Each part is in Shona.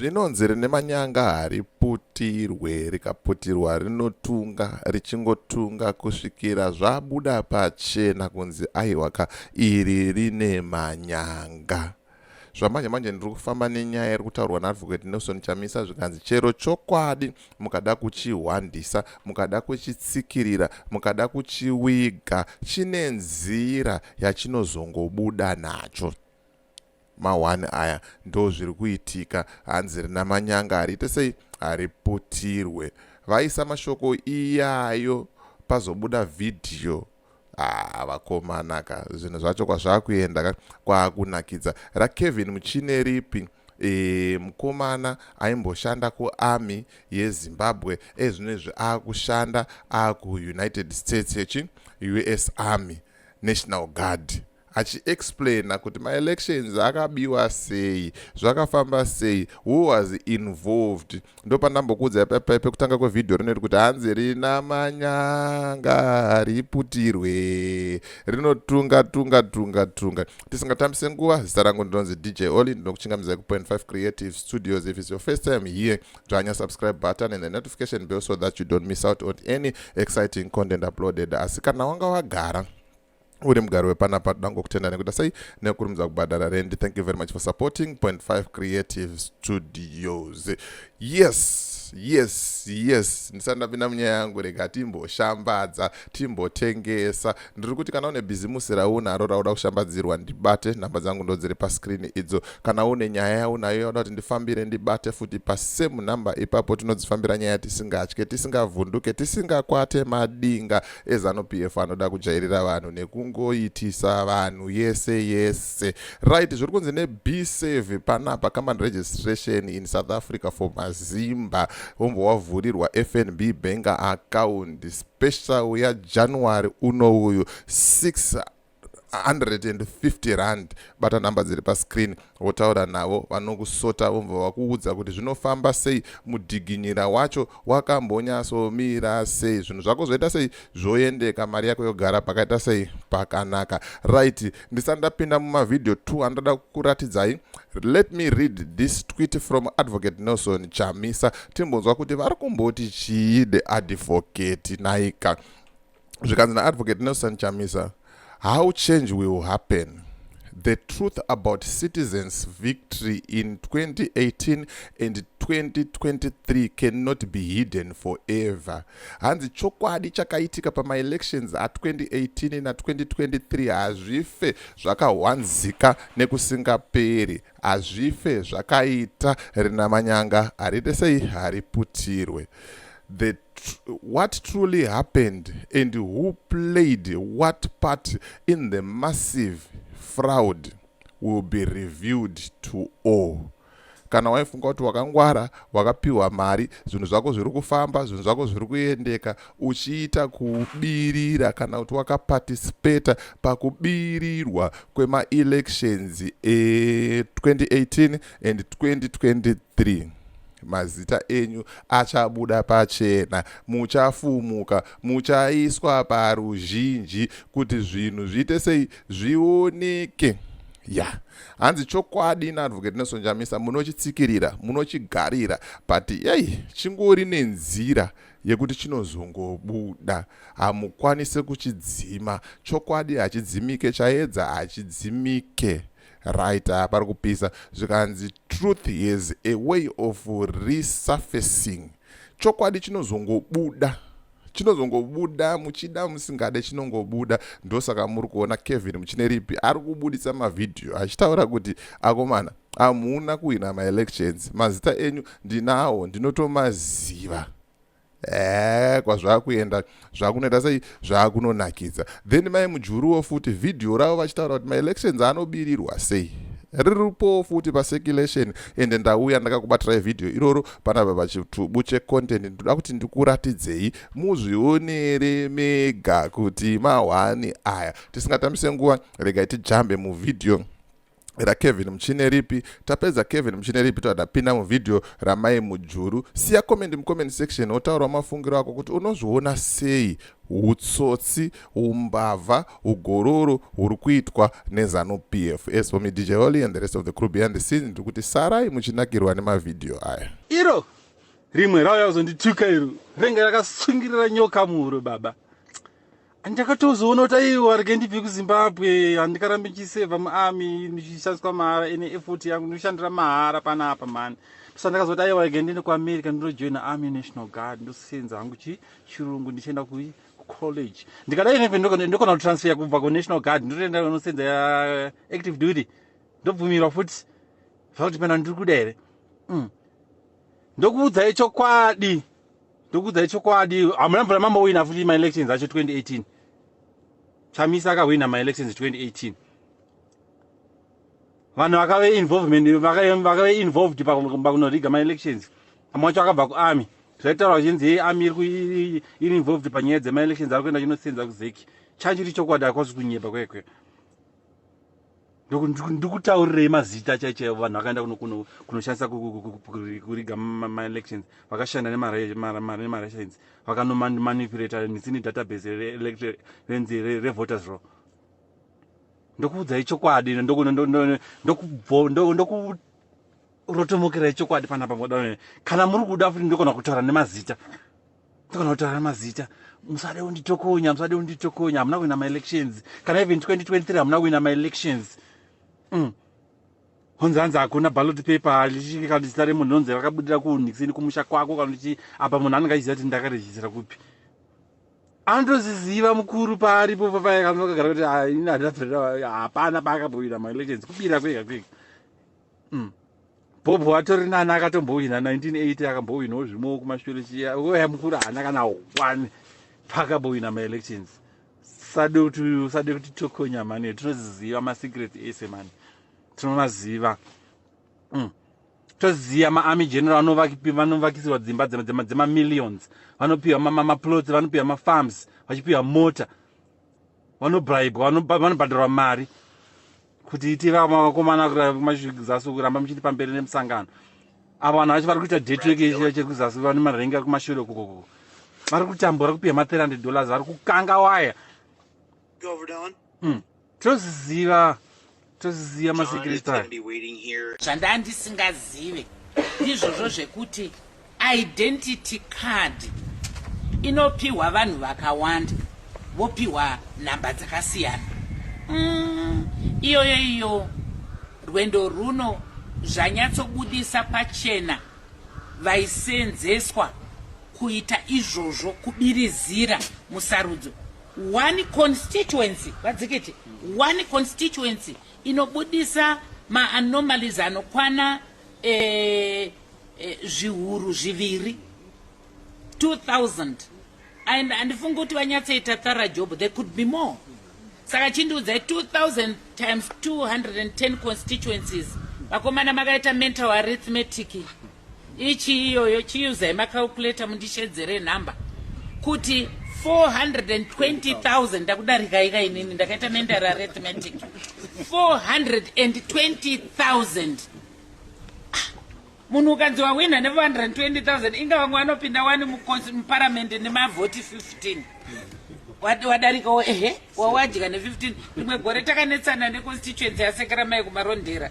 zvinonzi rine manyanga hariputirwe rikaputirwa rinotunga richingotunga kusvikira zvabuda pachena kunzi aiwa ka iri rine manyanga zvamanje manje ndiri kufamba nenyaya iri kutaurwa naadvocate nelson chamisa zvikanzi chero chokwadi mukada kuchihwandisa mukada kuchitsikirira mukada kuchiwiga chine nzira yachinozongobuda nacho Ma one aya ndozviri kuitika hanzi rina manyanga hariite sei hariputirwe vaisa mashoko iyayo pazobuda vhidhiyo ah, vakomanaka zvinhu zvacho kwazvakuenda ka kwakunakidza rakevin muchine ripi e, mukomana aimboshanda kuarmy yezimbabwe ezvino izvi akushanda akuunited states yechi us army national guard achiexplaina kuti maelections akabiwa sei zvakafamba sei who was involved ndopandambokuudzai paipai pekutanga kwevhidhiyo rinoti kuti hanzi rina manyanga riputirwe rinotunga tunga tunga tunga tisingatambise nguva zita rangu ndinonzi dj oli ndinokuchingamizai kupoint 5 creative studios if its your first time here dzvanya subscribe button and the notification bell so that you don't miss out on any exciting content uploaded asi kana wanga wagara uri mugari wepanapa toda ngokutenda nekuita sei nekurumidza kubhadhara rendi thank you very much for supporting point five creative studios yes yes yes ndisati ndapinda munyaya yangu rega timboshambadza timbotengesa ndiri kuti kana une bhizimusi raunaro rauda kushambadzirwa ndibate nhamba dzangu ndo dziri paskrini idzo kana une nyaya yaunayo yauda kuti ndifambire ndibate futi pasame nhamba ipapo tinodzifambira nyaya tisingatye tisingavhunduke tisingakwate madinga ezanu pf anoda kujairira vanhu nekungoitisa vanhu yese yese right zviri kunzi nebsave panapa common registration in south africa for mazimba wombo wavhurirwa fnb bank account special yajanuary uno uyu 6 150 rand bata nhamba dziri pascreen wotaura navo vanokusota vomva vakuudza kuti zvinofamba sei mudhiginyira wacho wakambonyasomira sei zvinhu zvako zvoita sei zvoendeka mari yako yogara pakaita sei pakanaka right ndisati ndapinda mumavhidhiyo 2 andoda kukuratidzai let me read this tweet from advocate nelson chamisa timbonzwa kuti vari kumboti chii the advocate naika zvikanzi naadvocate nelson chamisa how change will happen the truth about citizens victory in 2018 and 2023 cannot be hidden forever hanzi chokwadi chakaitika pamaelections a2018 na2023 hazvife zvakahwanzika nekusingaperi hazvife zvakaita rinamanyanga harite sei hariputirwe the what truly happened and who played what part in the massive fraud will be reviewed to all kana waifunga kuti wakangwara wakapiwa mari zvinhu zvako zviri kufamba zvinhu zvako zviri kuendeka uchiita kubirira kana kuti wakaparticipata pakubirirwa kwemaelections e2018 and 2023 mazita enyu achabuda pachena muchafumuka muchaiswa paruzhinji kuti zvinhu zviite sei zvioneke ya yeah. hanzi chokwadi naadvocate nesonjamisa munochitsikirira munochigarira but yei chingori nenzira yekuti chinozongobuda hamukwanise kuchidzima chokwadi hachidzimike chaedza hachidzimike right ah, pari kupisa zvikanzi truth is a way of resurfacing chokwadi chinozongobuda chinozongobuda muchida musingade chinongobuda ndosaka muri kuona kevin muchine ripi ari kubudisa mavhidhiyo achitaura kuti akomana hamuna kuhwina maelections mazita enyu ndinawo ndinotomaziva ee kwazvakuenda zvakunoita sei zvakunonakidza then mai mujuruwo futi vhidhiyo ravo vachitaura kuti maelections anobirirwa sei riripowo futi pacirculation ende ndauya ndakakubatirai vhidhiyo iroro panapa pachitubu checontent ndoda kuti ndikuratidzei muzvionere mega kuti mahwani aya tisingatambise nguva regai tijambe muvhidhiyo rakevin muchine ripi tapedza kevin muchine ripi toda pinda muvhidhiyo ramai mujuru siya comment mucomment section wotaurawo mafungiro ako kuti unozviona sei utsotsi umbavha ugororo huri kuitwa nezanu p f as for me dj holy and the rest of the crew behind the scene ndiri kuti sarai muchinakirwa nemavhidhiyo aya iro rimwe rauya kuzondituka iro renge rakatsungirira nyoka muhuro baba ndakatozoona kuti aiwa arege ndibve kuzimbabwe handikarambe ndichisevha muarmy ndichishandiswa mahara ene effort yangu ndinoshandira mahara panapa mhani so ndakazoti aiwa arege ndiende kuamerica ndinojoina army national guard ndosenza hangu chi chirungu ndichienda kucollege ndikadai neve ndokona kutransfer kubva kunational guard ndotoenda nosenza yaactive duty ndobvumirwa futi zvakuti pena ndiri kuda here mm. ndokuudzai chokwadi ndokuudzai chokwadi hamuna mvura mambowina futi maelections acho 2018 chamisa akahwina maelections 2018 vanhu vakave involvement vakave involved pakunoriga maelections amwe wacho akabva kuarmy zvaitaura vachinzi yei army iri iri involved panyaya dzemaelections ari kuenda chinosenza kuzeki chachiri chokwadi akwazi kunyepa kwekwe ndikutaurirei mazita chai chaivo vanhu vakaenda kunoshandisa kuriga maelections vakashanda nemarations vakanomanipulata mitsi nedatabase renzi revoters row ndokuudzai chokwadi ndokurotomokerai chokwadi panapa kana muri kuda futi ndikona kutaura nemazita kana kutaura mazita musade kunditokonya musade kunditokonya hamuna kuwina maelections kana even 2023 hamuna kuwina maelections mm. honzi hanzi hakuna ballot paper lichii kana zita remunhu honzi rakabudira kuunixini kumusha kwako kana uchi apa munhu anenge achiziva kuti ndakarejisira kupi anotozviziva mukuru paaripo papaye kanoakagara kuti ah, ini handinabvira hapana paakabowira maelections kubira kwega kwega mm. bob watori nani akatombohwina 1980 akambohwinawo zvimwewo kumashure chiya oya mukuru haana kana one paakabohwina maelections sade kuti usade kuti tokonya mani tinoziziva masecret ese mani tinomaziva mm. toziva maarmy general vanovakisirwa dzimba dzemamillions vanopiwa maplots vanopiwa mafarms vachipiwa mota vanobribwa vanobhadharwa mari kuti itiva mavakomana kumasvikuzasi kuramba muchiti pamberi nemusangano avo vanhu vacho vari kuita detwekechira chiri kuzasi vane marenga kumashure kukoko vari kutambura kupiwa ma300 dollars vari kukanga waya hmm. toziziva toziziva masekireti aya zvandava ndisingazive ndizvozvo zvekuti identity card inopiwa vanhu vakawanda vopiwa nhamba dzakasiyana mm, iyoyo iyo rwendo rwuno zvanyatsobudisa pachena vaisenzeswa kuita izvozvo kubirizira musarudzo One constituency vadzikiti one constituency inobudisa maanomalies anokwana eh, eh, zviuru zviviri 2000 and handifungi kuti vanyatsoita thara job there could be more saka chindiudzai 2000 times 210 constituencies vakomana makaita mental arithmetic Ichi iyoyo chiusai macalculator mundishedzere number kuti 420,000 ndakudarika ika inini ndakaita mental arithmetic 420,000 ah, munhu ukanzi wahwina ne420,000 inga vamwe vanopinda wani muparamende nemavhoti 15 wadarikawo ehe wawadya ne 15 rimwe gore takanetsana neconstituency yasekeramai kumarondera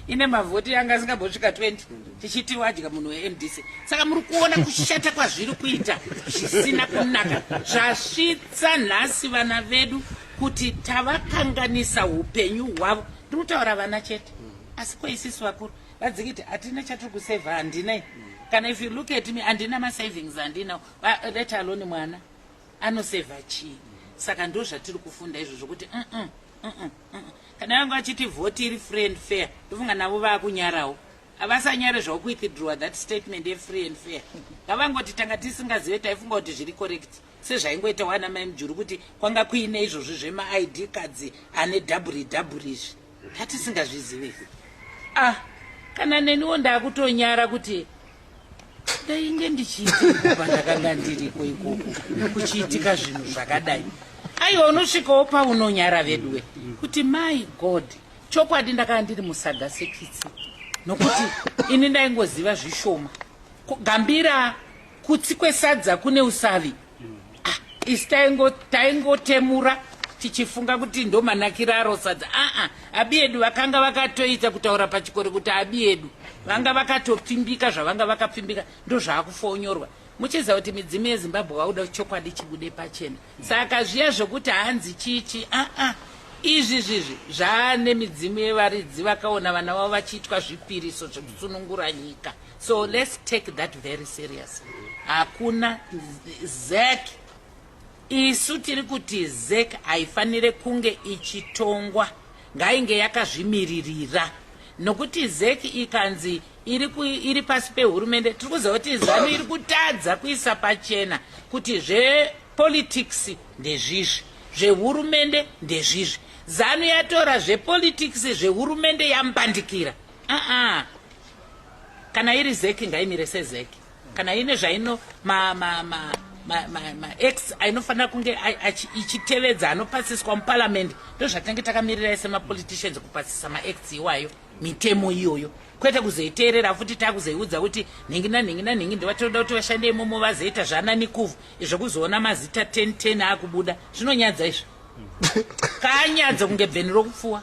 ine mavhoti yanga asingambosvika 20 tichiti wadya munhu wemdc saka muri kuona kushata kwazviri kuita zvisina kunaka zvasvitsa nhasi vana vedu kuti tavakanganisa upenyu hwavo ndinotaura vana chete asi kwaisisi vakuru vadzikiti hatina chatiri kuseva handinai kana if you look at me handina masavings handina let alone mwana Anoseva chii? Saka ndozvatiri kufunda izvo zvokuti mm -mm, mm -mm, mm -mm. Kana yangu achiti voti iri free and fair ndofunga navo vakunyarawo havasanyare zvaukuitidruwa that statement yefree and fair ngavangoti tanga tisingazive taifunga kuti zviri correct sezvaingoita wana mai mujuru kuti kwanga kuine izvozvi zvemaid kadzi ane dhaburi dhaburi izvi ndatisingazvizive ah kana neniwo ndakutonyara kuti ndainge ndichiitika pandakanga ndiriko ikoko kuchiitika zvinhu zvakadai aiwa unosvikawo paunonyara veduwe kuti my god chokwadi ndakanga ndiri musaga sekitsi nokuti ini ndaingoziva zvishoma gambira kutsi kwesadza kune usavi ah, isi taingotemura taingo tichifunga kuti ndomanakira aro sadza aa abiedu vakanga vakatoita kutaura pachikoro kuti abiedu vanga vakatopfimbika zvavanga vakapfimbika ndozvaakufonyorwa muchiziva kuti midzimu yezimbabwe vauda chokwadi chibude pachena saka zviya zvokuti hanzi chichi aa izvi zvizvi zvaane midzimu yevaridzi vakaona vana vavo vachiitwa zvipiriso zvekusunungura nyika So let's take that very serious. Hakuna ZEC. Isu tiri kuti ZEC haifanire kunge ichitongwa. Ngainge yakazvimiririra. Nokuti ZEC ikanzi iri, ku, iri pasi pehurumende tiri kuziva kuti zanu iri kutadza kuisa pachena kuti zvepolitics ndezvizvi zvehurumende ndezvizvi zanu yatora zvepolitics zvehurumende yambandikira uh -uh. kana iri zeki ngaimire sezeki kana ine zvaino ma, ma, ma, ma, ma, ma x ainofanira kunge ichitevedza anopasiswa muparliament ndozvatinenge takamirirai semapoliticians kupasisa max iwayo mitemo iyoyo kwete kuzoiteerera futi takuzoiudza kuti nhingi nanhingi nanhingi ndovatoda kuti vashande imomo vazoita zvananikuvu izvo kuzoona mazita 10 10 akubuda zvinonyadza izvo kanyadzo kunge bveni rokupfuwa